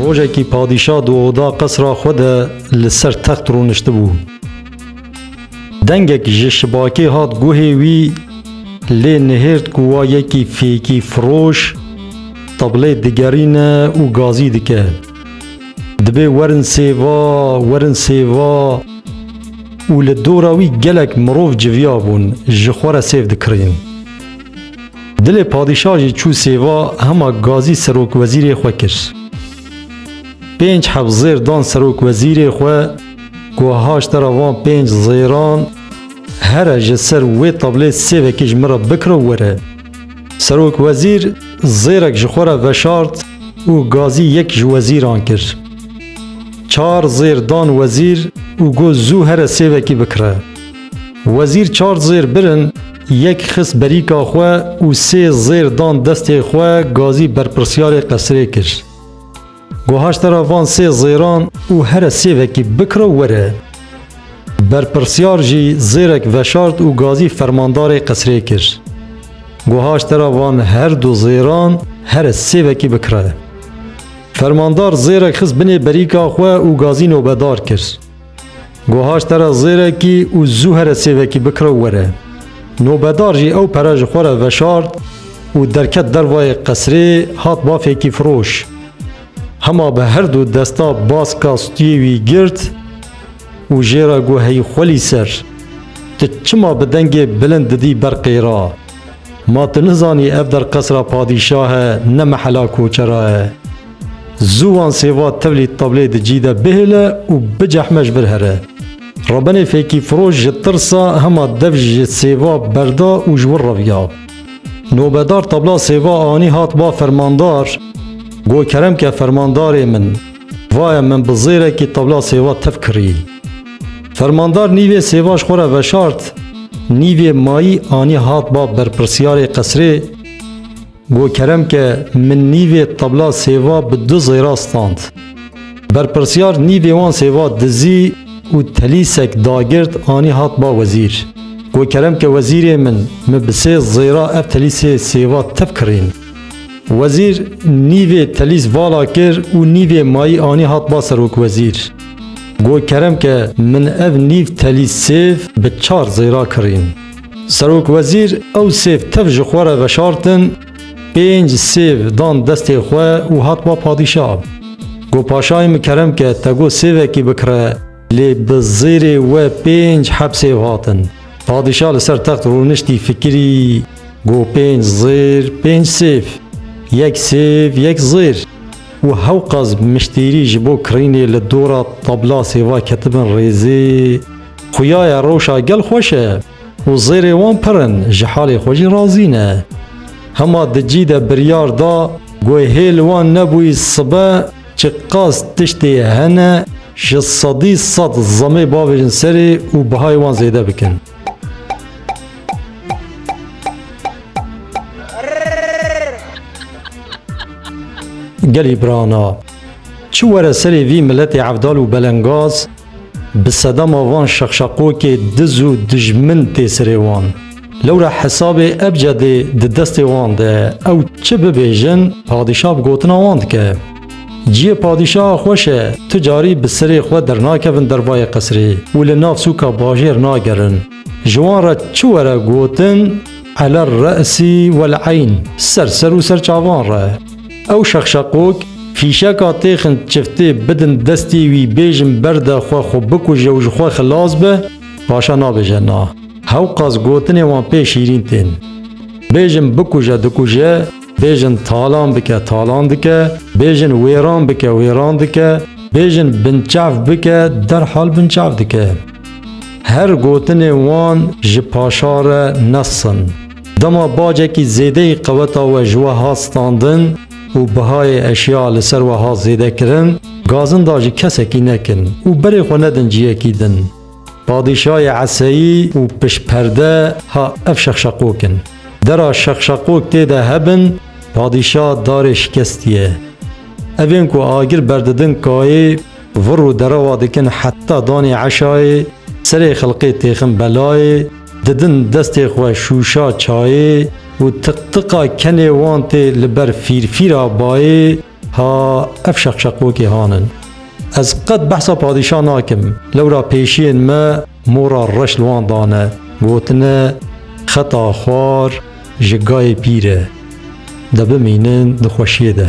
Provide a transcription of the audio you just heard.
Rojekî padîşah di oda qesra xwe de li ser text rûniştibû. Dengek ji şibakê hat guhê wî lê nihêrt ku wa yekî fêkî firoş tablê digerîne û gazî dike. Dibê werin sêva, werin sêva û li dora wî gelek mirov civiyabûn ji xwe re sêv dikirîn. Dilê padîşah jî çû sêva hema gazî serokwezîrê xwe kir. Pênc heb zêr dan serokwezîrê xwe ku haştera van pênc zêran here ji ser wê tablê sê vekî ji min re bikiro were. Serokwezîr zêrek ji xwe re veşart û gazî yek ji wezîran kir. Çar zêr dan wezîr û got zû here sê vekî bikire. Wezîr çar zêr birin Yek xist berîka xwe û sê zêr dan destê xwe gazî berpirsyarê qesirê kir. Got haşte ra van sê zêran û here sê vekî bikiro were. Berpirsyar jî zêrek veşart û gazî fermandarê qesirê kir. Got haşte ra van her du zêran here sê vekî bikire. Fermandar zêrek xist binê berîka xwe û gazî nobedar kir. Gohaş te re zêrekî û zû here sêvekî bikiro were. Nobedar jî ew pere ji xwe re veşart û derket dervayê qesrê hat bafekî firoş. Hema bi her du desta baska stûyê wî girt û jê re got heyî xwelî ser. Tu çima bi dengê bilind didî ber qêra? Ma tu nizanî ev der qesra padîşah e ne mehela koçera e. Zû wan sêva tevlî tablê di cî de bihêle û bicehme ji vir here. Rebenê fêkîfiroş ji tirsa hema dev ji sêva berda û ji wir reviya. Nobedar tabla sêva anî hat ba fermandar, Got kerem ke fermandarê min. Vaye min bi zêrekî tewla sêva tev kirî. Fermandar nîvê sêva ji xwe re veşart, nîvê mayî anî hat ba berpirsiyarê qesrê, got kerem ke min nîvê tewla sêva bi du zêra stand. Berpirsiyar nîvê wan sêva dizî û telîsek dagirt anî hat ba wezîr. Got kerem ke wezîrê min, min bi sê zêra ev telîsê sêva tev kirîn. Wezîr nîvê telîz vala kir û nîvê mayî anî hat ba serokwezîr. Got kerem ke min ev nîv telîz sêv bi çar zêra kirîn. Serokwezîr ew sêv tev ji xwe re veşartin, pênc sêv dan destê xwe û hat ba padîşa. Got paşayê min kerem ke te got sêvekî bikire lê bi zêrê we pênc heb sêv hatin. Padîşa li ser text rûniştî fikirî. Go pênc zêr, pênc sêv, yek sêv, yek zêr û hewqas miştîrî ji bo kirînê li dora tabla sêva ketibin rêzê. Xuya ye rewşa gel xweş e û zêrê wan pir in, ji halê xwe jî razî ne. Hema di cî de biryar da ku hê li wan nebûyî sibe çi qas tiştê hene ji sedî sed zemê bavêjin serê û bihayê wan zêde bikin. Gelê birana, çi were serê vî miletê evdal û belengaz, bi sedema van şexşeqokê diz û dijmin tê serê wan. Lewra hesabê ebcedê di destê wan de ye, ew çi bibêjin padîşah bi gotina wan dike. Ciyê padîşaha xweş e, tu carî bi serê xwe dernakevin dervayê qesrê û li nav sûka bajêr nagerin. Ji wan re çi were gotin Ele resî wel eyn, ser ser û ser çavan re. Ew şexşeqok, fîşeka têxin çiftê bidin destê wî bêjin berde xwe xwe bikuje û ji xwe xilas be, paşa nabêje na. Hewqas gotinên wan pê şîrîn tên. Bêjin bikuje dikuje. Bêjin talan bike talan dike, bêjin wêran bike wêran dike, bêjin binçav bike derhal binçav dike. Her gotinê wan ji paşa re nes in. Dema bacekî zêdeyî qeweta we ji we hat standin û bihayê eşya li ser we hat zêde kirin, gazin da ji kesekî nekin û berê xwe nedin ciyekî din. Padîşayê eseyî û piştperde ha ev şexşeqok in. Dera şexşeqok tê de hebin, padîşa darê şikestî ye. Evên ku agir berdidin kayê, vir û derewa dikin heta danê eşayê, serê xelqê têxin belayê, didin destê xwe şûşa çayê û tiqtiqa kenê wan tê li ber fîrfîra bayê, Ha ev şeqşeqokê han in. Ez qet behsa padîşah nakim. Lewra pêşiyên me mora reş li wan dane, gotine xeta xwar ji gayê pîr e. De bimînin di xweşiyê de.